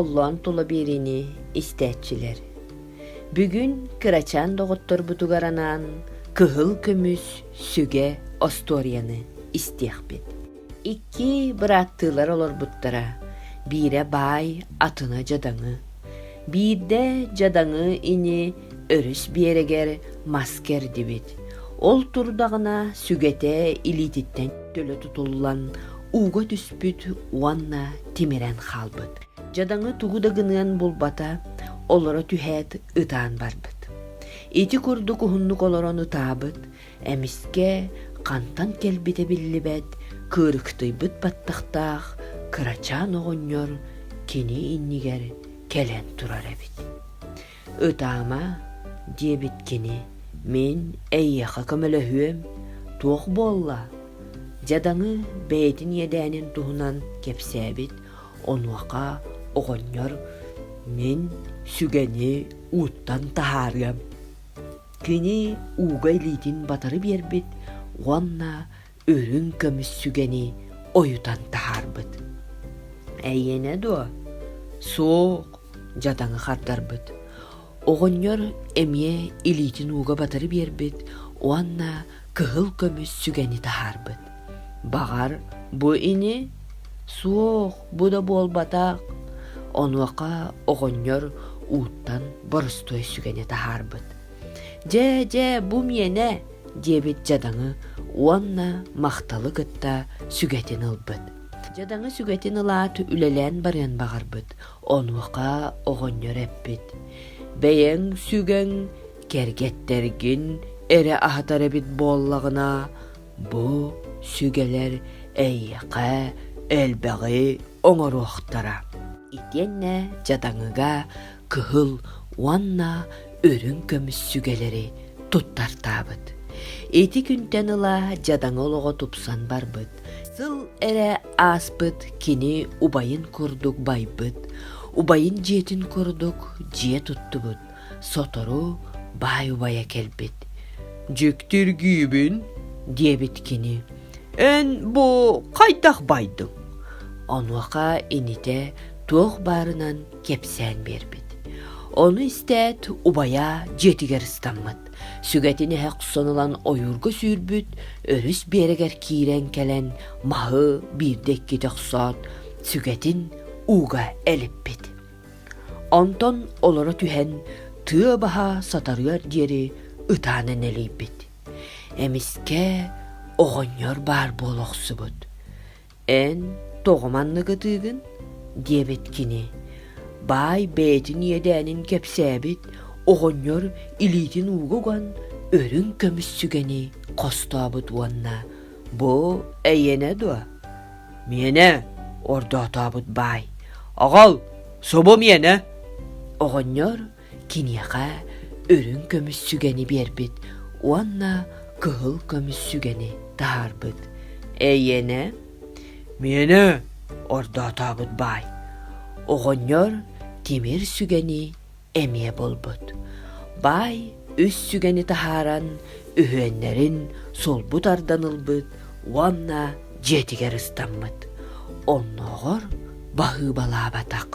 Холлоон тула биэриини истээччилэр. Бүгүн кырачаан доҕотторбутугар анаан кыһыл көмүс сүгэ остуоруйаны истиэхпит. Икки бырааттыылар олорбуттара. Биирэ баай атына дьадаҥы, биирдэ дьадаҥы ини өрүс биэрэгэр мас кэрдибит. Ол турдаҕына сүгэтэ илиититтэн төлө тутуллан ууга түспүт уонна тимирэн хаалбыт. Дьадаҥы тугу да гыныан булбата олоро түһээт ытаан барбыт. Ити курдук уһуннук олорон ытаабыт, эмискэ хантан кэлбитэ биллибэт, кырыктыйбыт баттахтаах кырачаан оҕонньор кини иннигэр кэлэн турар эбит. Ытаама, диэбит кини, мин эйиэхэ көмөлөһүөм, туох буолла? дьадаҥы бэйэтин иэдээнин туһунан кэпсээбит онуоха оҕонньор мин сүгэни ууттан таһаарыам. Кини ууга илиитин батары биэрбит уонна үрүҥ көмүс сүгэни ойутан таһаарбыт. Эйиэнэ дуо? Суох, дьатаҥы хардарбыт. Оҕонньор эмиэ илиитин ууга батары биэрбит уонна кыһыл көмүс сүгэни таһаарбыт. Баҕар, бу ини? Суох, бу да буолбатах. Онуоха оҕонньор ууттан боростуой сүгэни таһаарбыт. Дьэ, дьэ, бу миэнэ, диэбит дьадаҥы уонна махталы кытта сүгэтин ылбыт. Дьадаҥы сүгэтин ылаат үлэлээн барыан баҕарбыт, онуоха оҕонньор эппит: «Бэйэҥ сүгэҥ, кэргэттэргин эрэ аһатар эбит буоллаҕына, бу сүгэлэр эйиэхэ элбэҕи оҥоруохтара». Итиэннэ дьадаҥыга кыһыл уонна үрүҥ көмүс сүгэлэри туттартаабыт. Ити күнтэн ыла дьадаҥы олоҕо тупсан барбыт. Сыл эрэ ааспыт кини убайын курдук байбыт, убайын дьиэтин курдук дьиэ туттубут, сотору баай убайа кэлбит. «Дьүктүргүүбүн» диэбит кини. «Эн бу хайдах байдыҥ?» Онуоха инитэ туох баарынан кэпсээн биэрбит. Ону истээт, убайа дьиэтигэр ыстаммыт. Сүгэтин эһэ хсон ылан ойуурга сүүрбүт, өрүс биэрэгэр киирэн кэлэн маһы биирдэ-иккитэ охсоот, сүгэтин ууга элиппит. Онтон олоро түһэн, тыа баһа сатарыар диэри ытаана нэлийбит. Эмискэ оҕонньор баар буола охсубут. эн тоҕо маннык ытыыгын диэбит кини баай бэйэтин иэдээнин кэпсээбит оҕонньор илиитин ууга уган үрүҥ көмүс сүгэни хостообут уонна бу эйиэнэ дуо миэнэ ордоотообут баай аҕал субу миэнэ оҕонньор киниэхэ үрүҥ көмүс сүгэни биэрбит уонна кыһыл көмүс сүгэни таһаарбыт. Эйиэнэ, миэнэ ордоотообут баай. Оҕонньор тимир сүгэни эмиэ булбут. Баай үс сүгэни таһааран үһүөннэрин сулбу тардан ылбыт уонна дьиэтигэр ыстаммыт. Оннооҕор баһыыбалаабатах.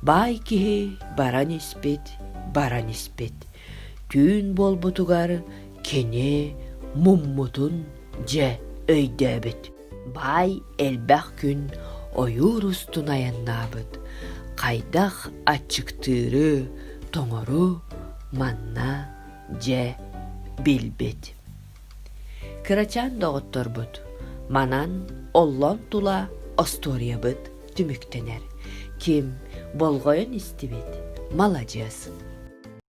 Баай киһи баран испит, баран испит. Түүн буолбутугар кини муммутун дьэ өйдөөбүт. Баай элбэх күн ойуур устун айаннаабыт. Хайдах аччыктыыры, тоҥору манна дьэ билбит. Кырачаан доҕотторбут манан оллон тула остуоруйабыт түмүктэнэр. Ким болҕойон истибит – маладьыас.